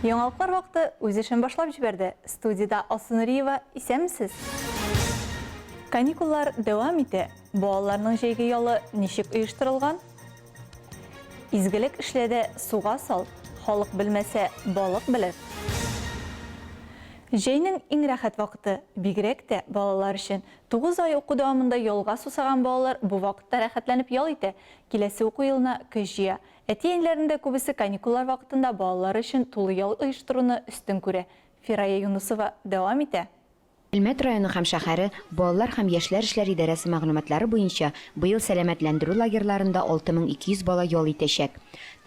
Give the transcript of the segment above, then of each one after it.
Яңалыклар вакыты үз эшен башлап җибәрде. Студиядә Алсу Нуриева, исәнмесез? Каникуллар дәвам итә. Балаларның җәйге ялы ничек оештырылган? Изгелек эшлә дә суга сал, халык белмәсә, балык белер. Җәйнең иң рәхәт вакыты, бигрәк тә балалар өчен. Тугыз ай уку дәвамында ялга сусаган балалар бу вакытта рәхәтләнеп ял итә, киләсе уку елына көч җыя. Әти-әниләрнең дә күбесе каникуллар вакытында балалары өчен тулы ял оештыруны өстен күрә. Фирая Юнысова дәвам итә. Әлмәт районы һәм шәһәре балалар һәм яшьләр эшләр идарәсе мәгълүматлары буенча, быел сәламәтләндерү лагерьларында 6200 бала ял итәчәк.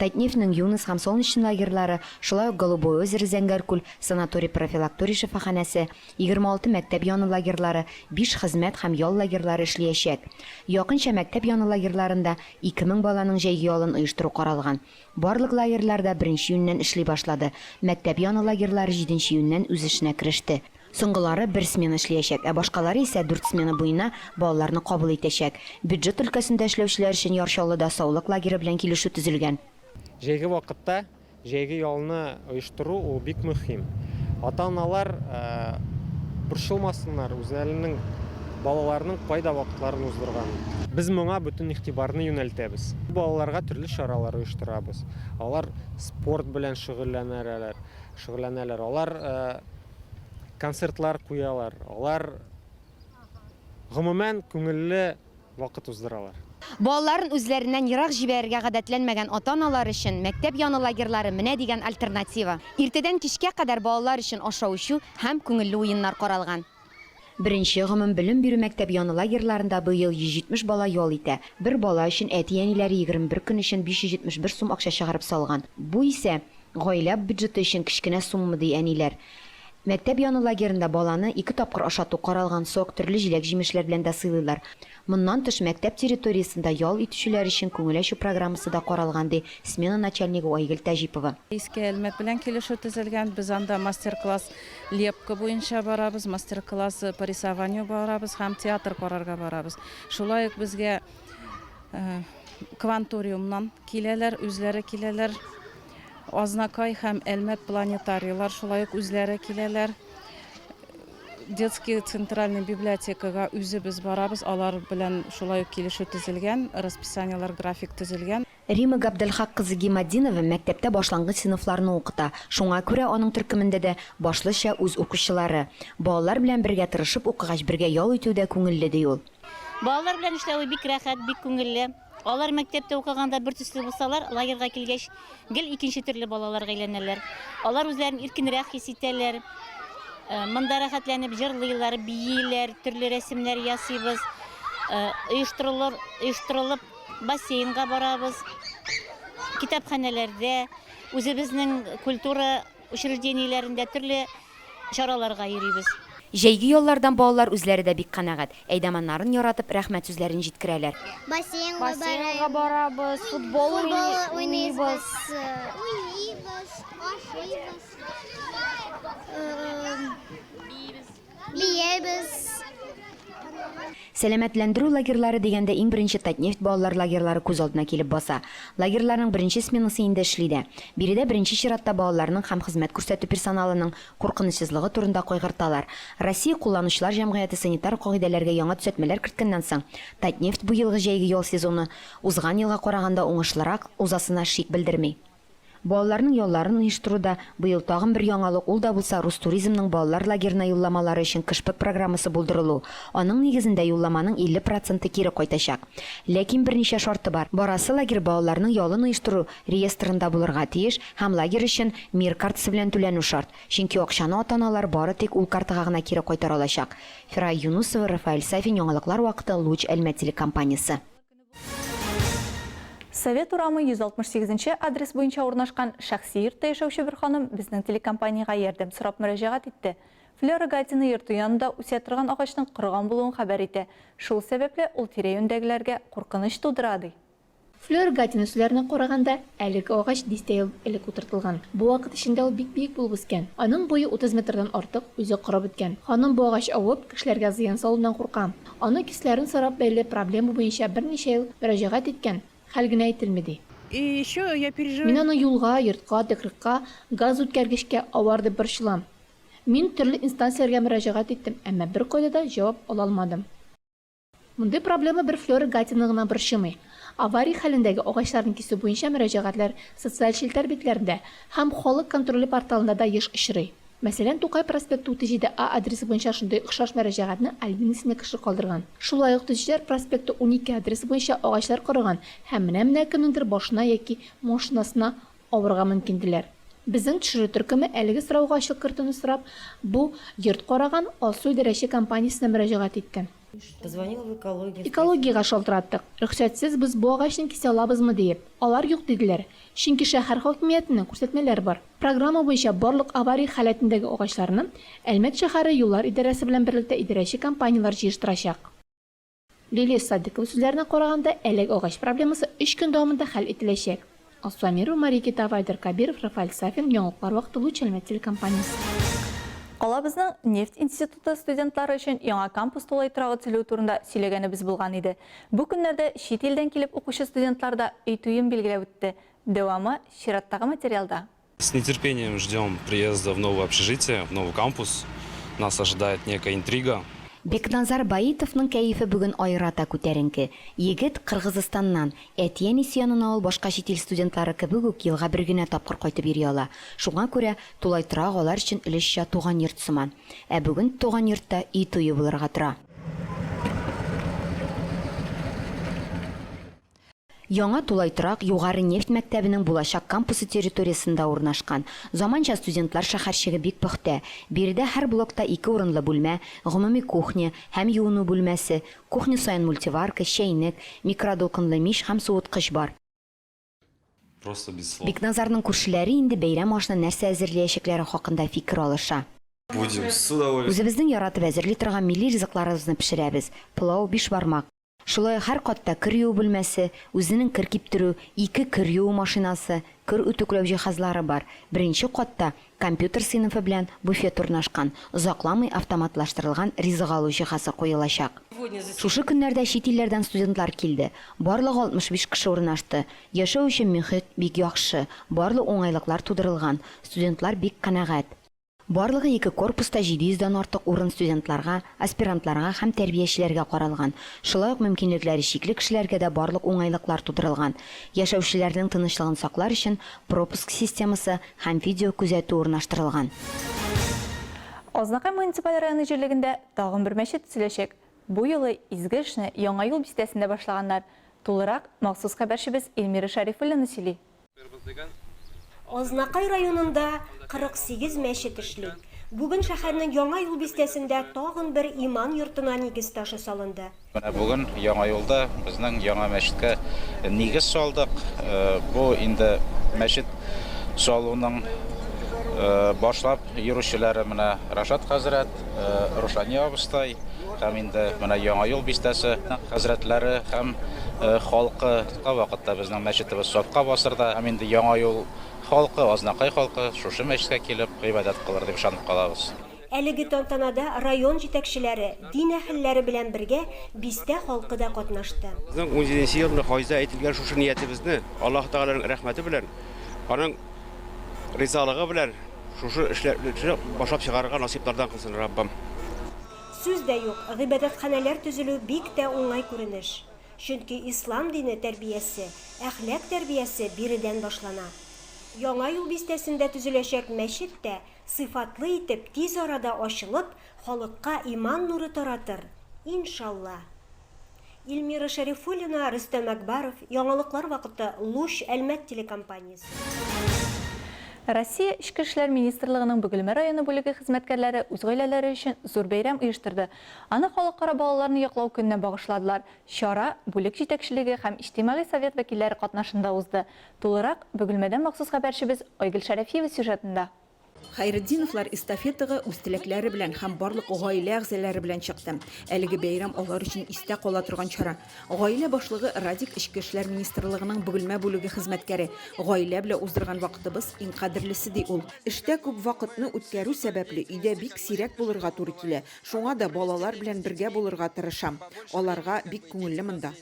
Татнефтьнең Юныс һәм Солнечный лагерьлары, шулай ук Голубое озеро Зәңгәркүл санаторий-профилакторий шифаханәсе, 26 мәктәп яны лагерьлары, биш хезмәт һәм ял лагерьлары эшлиячәк. Якынча мәктәп яны лагерьларында 2000 баланың җәйге ялын оештыру каралган. Барлык лагерьлар да беренче июньнән эшли башлады. Мәктәп яны лагерьлары җиденче июньнән үз эшенә кереште. Соңгылары бер смена эшлиячәк, ә башкалары исә дүрт смена буена балаларны кабул итәчәк. Бюджет өлкәсендә эшләүчеләр өчен Яр Чаллыда саулык лагеры белән килешү төзелгән. Җәйге вакытта җәйге ялны Оештыру ул бик мөһим. Ата-аналар борчылмасыннар, үзләренең балаларының кайда вакытларын уздырганын. Без моңа бөтен игътибарны юнәлтәбез. Балаларга төрле чаралар оештырабыз. Алар спорт белән шөгыльләнәләр, шөгыльләнәләр. Алар концертлар куялар. Алар гомумән күңелле вакыт уздыралар. Балаларын үзләреннән ерак җибәрергә гадәтләнмәгән ата-аналар өчен мәктәп яны лагерьлары менә дигән альтернатива. Иртәдән кичкә кадәр балалар өчен ашау-эчү һәм күңелле уеннар каралган. Беренче гомумбелем бирү мәктәп яны лагерьларында быел 170 бала ял итә. Бер бала өчен әти-әниләре 21 көн өчен 571 сум акча чыгарып салган. Бу исә Гаилә бюджеты өчен кечкенә сумма, ди әниләр. Мәктәп яны лагеренда баланы ике тапкыр ашату каралган, сок, төрле җиләк-җимешләр белән дә сыйлыйлар. Моннан тыш, мәктәп территориясендә ял итүчеләр өчен күңел ачу программасы да каралган, ди смена начальнигы Айгөл Тәҗипова. Иске Әлмәт белән килешү төзелгән. Без анда мастер-класс лепка буенча барабыз, мастер-класс по рисованию барабыз һәм театр карарга барабыз. Шулай ук безгә Кванториумнан киләләр, үзләре киләләр. Азнакай һәм Әлмәт планетарийлар шулай ук үзләре киләләр. Детский центральный библиотекага үзебез барабыз, алар белән шулай ук килешү төзелгән, расписаниеләр, график төзелгән. Рима Габделхак кызы Гиматдинова мәктәптә башлангыч сыйныфларны укыта, шуңа күрә аның төркемендә дә башлыча үз укучылары. Балалар белән бергә тырышып укыгач, бергә ял итү дә күңелле, ди ул. Балалар белән эшләве бик рәхәт, бик күңелле. Алар мәктәптә укыганда бер төсле булсалар, лагерьга килгәч, гел икенче төрле балаларга әйләнәләр. Алар үзләрен иркенрәк хис итәләр. Э, монда рәхәтләнеп җырлыйлар, бииләр, төрле рәсемнәр ясыйбыз. Э, оештырылып, оештырылып бассейнга барабыз. Китапханәләрдә үзебезнең культура Учреждениеләрендә төрле чараларга йөрибез. Җәйге яллардан балалар үзләре дә бик канәгать. Әйдаманнарын яратып, рәхмәт сүзләрен җиткерәләр. Бассейнга барабыз, футбол уйныйбыз. Уйныйбыз, ашыйбыз. биебез. Сәламәтләндерү лагерьлары дигәндә иң беренче Татнефть балалар лагерьлары күз алдына килеп баса. Лагерьларның беренче сменасы инде эшли дә. Биредә беренче чиратта балаларның һәм хезмәт күрсәтү персоналының куркынычсызлыгы турында кайгырталар. Россия кулланучылар җәмгыяте санитар кагыйдәләргә яңа төзәтмәләр керткәннән соң, Татнефть быелгы җәйге ял сезоны узган елга караганда уңышлырак узасына шик белдерми. Балаларның ялларын оештыруда быел тагын бер яңалык, ул да булса Рустуризмның балалар лагерена юлламалары өчен кышпыт программасы булдырылу. Аның нигезендә юлламаның 50 проценты кире кайтачак. Ләкин берничә шарты бар, барасы лагерь балаларның ялын оештыру реестрында булырга тиеш һәм лагерь өчен Мир картасы белән түләнү шарт, чөнки акчаны ата-аналар бары тик ул картага гына кире кайтара алачак. Фирая Юнусова, Рафаэль Сафин, яңалыклар вакыты, Луч, Әлмәт телекомпаниясе. Совет урамы 168 нче адрес буенча урнашкан шәхси йортта яшәүче бер ханым безнең телекомпаниягә ярдәм сорап мөрәҗәгать итте. Флера Гатина йорты янында үсә торган агачның корыган булуын хәбәр итә, шул сәбәпле, ул тирә-юньдәгеләргә куркыныч тудыра, ди. Флера Гатина сүзләренә караганда, әлеге агач дистә ел элек утыртылган. Бу вакыт эчендә ул бик биек булып үскән. Аның буе 30 метрдан артык, үзе корып беткән. Ханым бу агач авып, кешеләргә зыян салуыннан курка. Аны кисләрен сорап бәйле проблема буенча берничә ел мөрәҗәгать иткән, хәл генә ителми, ди. Мин аны юлга, йортка, тыкрыкка, газ үткәргечкә авар дип борчылам. Мин төрле инстанцияләргә мөрәҗәгать иттем, әмма беркайда да җавап ала алмадым. Мондый проблема бер Флера Гатинаны гына борчымый. Авария хәлендәге агачларны кисү буенча мөрәҗәгатьләр социаль челтәр битләрендә һәм халык контроле порталында да еш очрый. Мәсәлән, Тукай проспекты 37 А адресы буенча шундый охшаш мөрәҗәгатьне Альбина исемле кеше калдырган. Шулай ук Төзүчеләр проспекты 12 адресы буенча агачлар корыган һәм менә-менә кемнеңдер башына яки машинасына авырга мөмкин диләр. Безнең төшерү төркеме, әлеге сорауга ачык кертүне сорап, бу йорт караган Алсу идарәче компаниясенә мөрәҗәгать иткән. Экологиягә шалтыраттык, рөхсәтсез без бу агачны кисә алабызмы диеп. Алар юк диделәр, чөнки шәһәр хакимиятеннән күрсәтмәләр бар. Программа буенча барлык авария халәтендәге агачларны Әлмәт шәһәре юллар идарәсе белән берлектә идарәче компанияләр җыештырачак. Лилия Садыкова сүзләренә караганда, әлеге агач проблемасы өч көн дәвамында хәл ителәчәк. Алсу Әмирова, Мария Китаева, Айдар Кабиров, Рафаэль Сафин, яңалыклар вакыты Луч Әлмәт телекомпаниясе. Калабызның нефть институты студентлары өчен яңа кампус тулай торагы төзелүе турында сөйләгәнебез булган иде. Бу көннәрдә чит илдән килеп укучы студентлар да өй туен билгеләп үтте. Дәвамы чираттагы материалда. С нетерпением ждем приезда в новое общежитие, в новый кампус. Нас ожидает некая интрига. Бекназар Баитовның кәефе бүген аерата күтәренке. Егет, Кыргызыстаннан. Әти-әни сөянына ул башка чит ил студентлары кебек үк елга бер генә тапкыр кайтып йөри ала. Шуңа күрә тулай торак алар өчен өлешчә туган йорт сыман. Ә бүген туган йортта өй туе булырга тора. Яңа тулай торак Югары нефть мәктәбенең булачак кампусы территориясендә урнашкан. Заманча студентлар шәһәрчеге бик пөхтә. Биредә һәр блокта ике урынлы бүлмә, гомуми кухня һәм юыну бүлмәсе, кухня саен мультиварка, чәйнек, микродулкынлы мич һәм суыткыч бар. Бикназарның күршеләре инде бәйрәм ашына нәрсә әзерләячәкләре хакында фикер алыша. Үзебезнең яратып әзерли торган милли ризыкларыбызны пешерәбез, пылау, бишбармак. Шулай ук һәр катта кер юу бүлмәсе, үзенең кер киптерү, ике кер юу машинасы, кер үтүкләү җиһазлары бар. Беренче катта компьютер сыйныфы белән буфет урнашкан, озакламый автоматлаштырылган ризык алу җиһазы куелачак. Шушы көннәрдә чит илләрдән студентлар килде. Барлыгы 65 кеше урнашты. Яшәү өчен мөхит бик яхшы, барлык уңайлыклар тудырылган, студентлар бик канәгать. Барлыгы ике корпуста 700 дан артык урын студентларга, аспирантларга һәм тәрбиячеләргә каралган. Шулай ук мөмкинлекләре чикле кешеләргә дә барлык уңайлыклар тудырылган. Яшәүчеләрнең тынычлыгын саклар өчен пропуск системасы һәм видеокүзәтү урнаштырылган. Азнакай муниципаль районы җирлегендә тагын бер мәчет төзеләчәк. Бу юлы изге эшне Яңа юл бистәсендә башлаганнар. Тулырак махсус хәбәрчебез Эльмира Шәрифуллина сөйли. Азнакай районында 48 мәчет эшли. Бүген шәһәрнең Яңа юл бистәсендә тагын бер иман йортына нигез ташы салынды. Менә бүген Яңа юлда безнең яңа мәчеткә нигез салдык. Бу инде мәчет салуның башлап йөрүчеләре менә Рашат хәзрәт, Рушания абыстай һәм инде менә Яңа юл бистәсе хәзрәтләре һәм халкы. Вакытка вакытта безнең мәчетебез сафка басыр да, һәм инде Яңа юл халкы, Азнакай халкы шушы мәчеткә килеп гыйбадәт кылыр дип ышанып калабыз. Әлеге тантанада район җитәкчеләре, дин әһелләре белән бергә бистә халкы да катнашты. Безнең унҗиденче елны хаҗда әйтелгән шушы ниятебезне Аллаһы Тәгаләнең рәхмәте белән, аның ризалыгы белән шушы эшләрне башлап чыгарырга насыйплардан кылсын Раббым. Сүз дә юк, гыйбадәтханәләр төзелү бик тә уңай күренеш. Чөнки ислам дине тәрбиясе, әхлак тәрбиясе биредән башлана. Яңа юл бистәсендә төзеләчәк мәчет тә сыйфатлы итеп тиз арада ачылып, халыкка иман нуры таратыр, иншалла. Ильмира Шәрифуллина, Рөстәм Әкбаров, яңалыклар вакыты, Луч, Әлмәт телекомпаниясе. Россия Эчке эшләр министрлыгының Бөгелмә районы бүлеге хезмәткәрләре үз гаиләләре өчен зур бәйрәм оештырды, Аны Халыкара балаларны яклау көненә багышладылар. Чара бүлек җитәкчелеге һәм иҗтимагый совет вәкилләре катнашында узды. Тулырак Бөгелмәдән махсус хәбәрчебез Айгөл Шәрәфиева сюжетында. Хәйретдиновлар эстафетага үз теләкләре белән һәм барлык гаилә әгъзалары белән чыкты. Әлеге бәйрәм алар өчен истә кала торган чара. Гаилә башлыгы Радик Эчке эшләр министрлыгының Бөгелмә бүлеге хезмәткәре. Гаилә белән уздырган вакытыбыз, иң кадерлесе, ди ул. Эштә күп вакытны үткәрү сәбәпле, өйдә бик сирәк булырга туры килә. Шуңа да балалар белән бергә булырга тырышам. Аларга бик күңелле монда.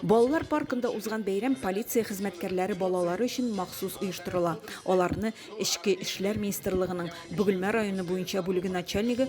Балалар паркында узган бәйрәм полиция хезмәткәрләре балалары өчен махсус оештырыла. Аларны Эчке эшләр министрлыгының Бөгелмә районы буенча бүлеге начальнигы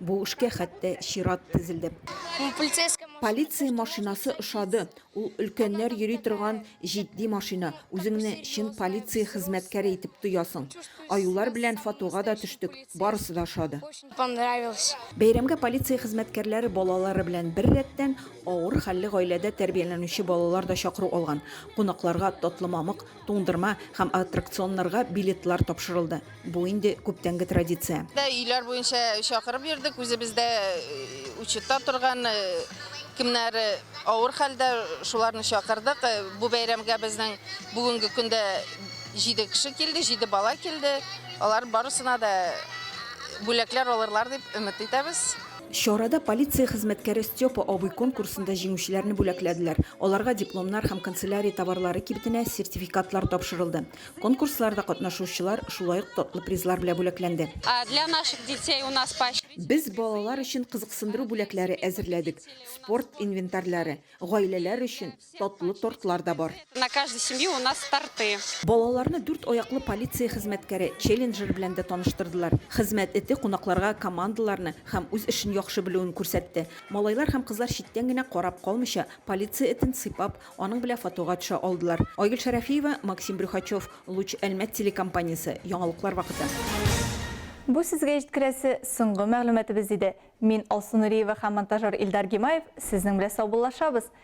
Бу эшкә хәтта чират тезелде. Полиция машинасы ошады. Ул өлкәннәр йөри торган җитди машина, үзеңне чын полиция хезмәткәре итеп тоясың. Аюлар белән фотога да төштек, барысы да ошады. Бәйрәмгә полиция хезмәткәрләре балалары белән беррәттән, авыр хәлле гаиләдә тәрбияләнүче балалар да чакыру алган. Кунакларга татлы мамык, Туңдырма һәм аттракционнарга билетлар тапшырылды. Бу инде күптәнге традиция. Өйләр буенча чакырып йөрдек, үзебездә учетта торган, кемнәр авыр хәлдә, шуларны чакырдык. Бу бәйрәмгә безнең бүгенге көндә җиде кеше килде, җиде бала килде. Алар барысына да бүләкләр алырлар дип өмет итәбез. Чарада полиция хезмәткәре Степа абый конкурсында җиңүчеләрне бүләкләделәр. Аларга дипломнар һәм канцелярия товарлары кибетенә сертификатлар тапшырылды. Конкурсларда катнашучылар шулай ук татлы призлар белә бүләкләнде. Без балалар өчен кызыксындыру бүләкләре әзерләдек, спорт инвентарьлары, гаиләләр өчен, Татлы тортлар да бар. На каждой семьи у нас торты. Балаларны дүрт аяклы полиция хезмәткәре, челленджер белән дә таныштырдылар. Хезмәт эте кунакларга командаларны һәм үз эшен яхшы белүен күрсәтте. Малайлар һәм кызлар читтән генә карап калмыйча, полиция этен сыйпап, аның белә фотога төшә алдылар. Айгөл Шәрәфиева, Максим Брюхачев, Луч Әлмәт телекомпаниясе, яңалыклар вакыты. Бу сезгә җиткерәсе соңгы мәгълүматыбыз иде. Мин Алсу Нуриева һәм монтажер Илдар Гимаев сезнең белә саубуллашабыз.